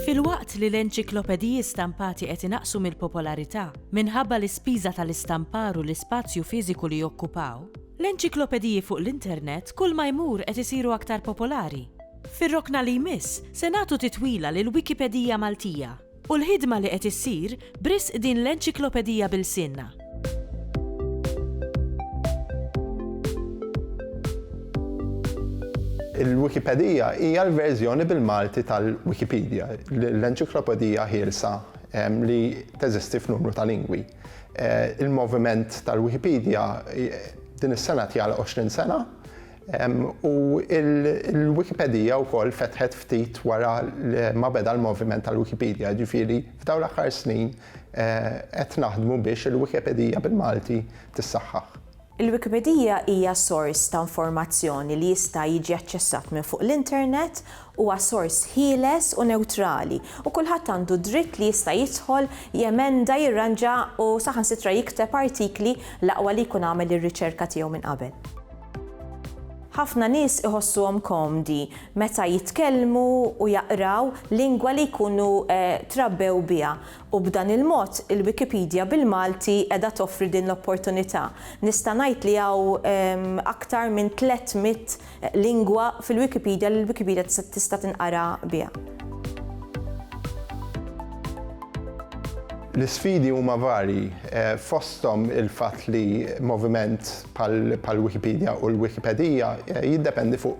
Filwaqt li l-enċiklopediji stampati qed inaqqsu mill-popolarità minħabba l-ispiża tal-istampar u l-ispazju fiżiku li jokkupaw, L-enċiklopediji fuq l-internet kull ma jmur qed isiru aktar popolari. Fir-rokna li jmiss se nagħtu titwila lill-Wikipedija Maltija u l-ħidma li qed issir b'risq din l-enċiklopedija b'ilsienna. Il-Wikipedija hija l-verżjoni bil-Malti tal-Wikipedija, l-enċiklopedija ħielsa li teżisti f'numru ta' lingwi. Il-moviment tal-Wikipedia din is-sena tjala 20 sena u l-Wikipedija wkoll fetħet ftit wara ma beda l-moviment tal-Wikipedia, ġifieri f'dawn l-aħħar snin qed naħdmu biex il-Wikipedija bil-Malti tissaħħaħ. Il-Wikipedija hija sors ta' informazzjoni li jista' jiġi aċċessat minn fuq l-internet, huwa sors ħieles u newtrali, u kulħadd għandu d-dritt li jista' jidħol, jemenda, jirranġa u saħansitra jikteb artikli l-aqwa li jkun għamel ir-riċerka tiegħu minn qabel. Ħafna nies iħossuhom komdi meta jitkellmu u jaqraw lingwa li jkunu trabbew biha U b'dan il-mod, il-Wikipedia bil-Malti qiegħda toffri din l-opportunità. Nista' ngħid li hawn aktar minn tliet mitt lingwa fil-Wikipedia li l-Wikipedia tista' tinqara biha. L-isfidi huma varji, fosthom il-fatt li moviment bħall-Wikipedia u l-Wikipedija jiddependi fuq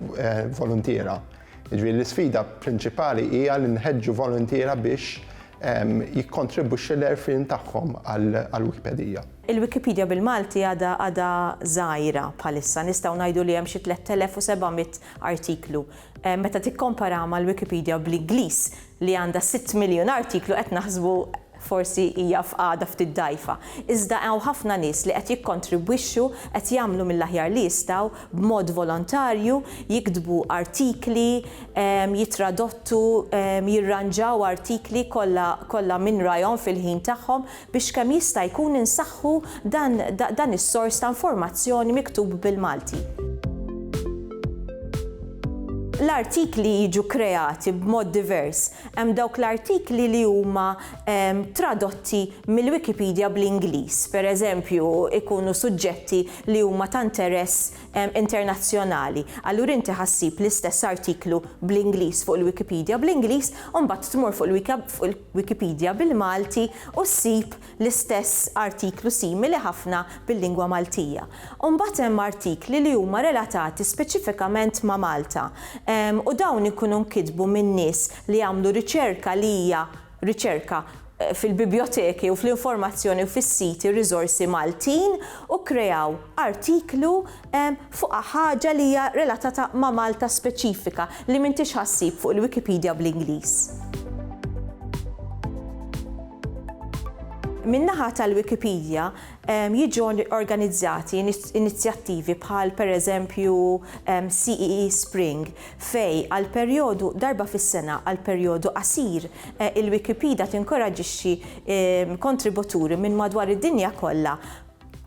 voluntiera. Jiġifieri l-isfida prinċipali hija li nħeġġu voluntiera biex jikkontribwixxi l-għerfien tagħhom għall-Wikipedija. Il-Wikipedia bil-Malti għadha għadha żgħira bħalissa, nistgħu ngħidu li hemm xi 3,700 artiklu. Meta tikkomparaha mal-Wikipedia bl-Ingliż li għandha sitt miljun artiklu qed naħsbu Forsi hija f'qagħda ftit dgħajfa, iżda hawn ħafna nies li qed jikkontribwixxu, qed jagħmlu mill-aħjar li jistgħu, b'mod volontarju, jiktbu artikli, jitradottu, jirranġaw artikli, kollha, kollha min rajhom fil-ħin tagħhom, biex kemm jista' jkun insaħħu dan, dan is-sors ta' informazzjoni miktub bil-Malti. L-artikli jiġu kreati b'mod divers, Hemm dawk l-artikli li huma tradotti mill-Wikipedia bl-Ingliż, pereżempju, ikunu suġġetti li huma ta' interess internazzjonali. Allura inti ħa ssib l-istess artiklu bl-Ingliż fuq il-Wikipedia bl-Ingliż u mbagħad tmur fuq il-Wikipedia bil-Malti u ssib l-istess artiklu simili ħafna bil-lingwa Maltija. U mbagħad hemm artikli li huma relatati speċifikament ma' Malta u dawn ikunu nkitbu minn nies li għamlu riċerka li hija riċerka fil-bibjoteki u fl-informazzjoni u fis-siti u riżorsi Maltin u kkreaw artiklu fuqha ħaġa li hija relatata ma' Malta speċifika li m'intix ħa ssib fuq il-Wikipedia bl-Ingliż. Min-naħa tal-Wikipedia jiġu organizzati inizjattivi bħal pereżempju CEE e Spring fej għal perjodu darba fis-sena għal perjodu qasir eh, il-Wikipedia tinkoraġixxi kontributuri minn madwar id-dinja kollha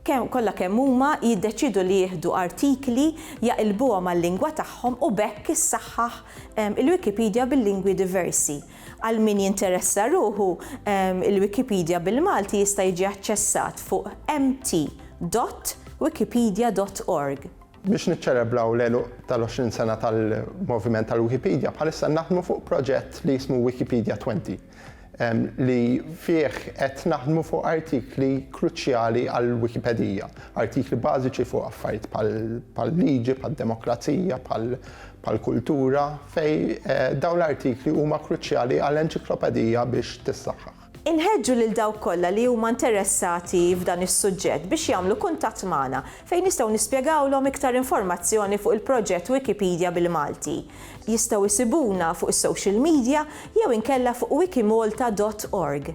kemm kollha kemm huma jiddeċiedu li jieħdu artikli, jaqilbuhom għal-lingwa tagħhom u b'hekk issaħħaħ il-Wikipedia bil-lingwi diversi. Għal min jinteressa ruħu, il-Wikipedia bil-Malti jista' jiġi aċċessat fuq mt. Wikipedia.org. Biex niċċelebraw l-għeluq tal-20 sena tal-moviment tal-Wikipedia, bħalissa naħdmu fuq proġett li jismu Wikipedia Twenty, li fih qed naħdmu fuq artikli kruċjali għall-Wikipedija, artikli bażiċi fuq affarijiet bħal-liġi, bħad-demokrazija, bħall-kultura, fejn dawn l-artikli huma kruċjali għal enċiklopedija biex tissaħħaħ. Inħeġġu lil dawk kollha li huma interessati f'dan is-suġġett biex jagħmlu kuntatt magħna fejn nistgħu nispjegawlhom iktar informazzjoni fuq il-proġett Wikipedia bil-Malti. Jistgħu jsibuna fuq is-social media jew inkella fuq wikimalta dot org.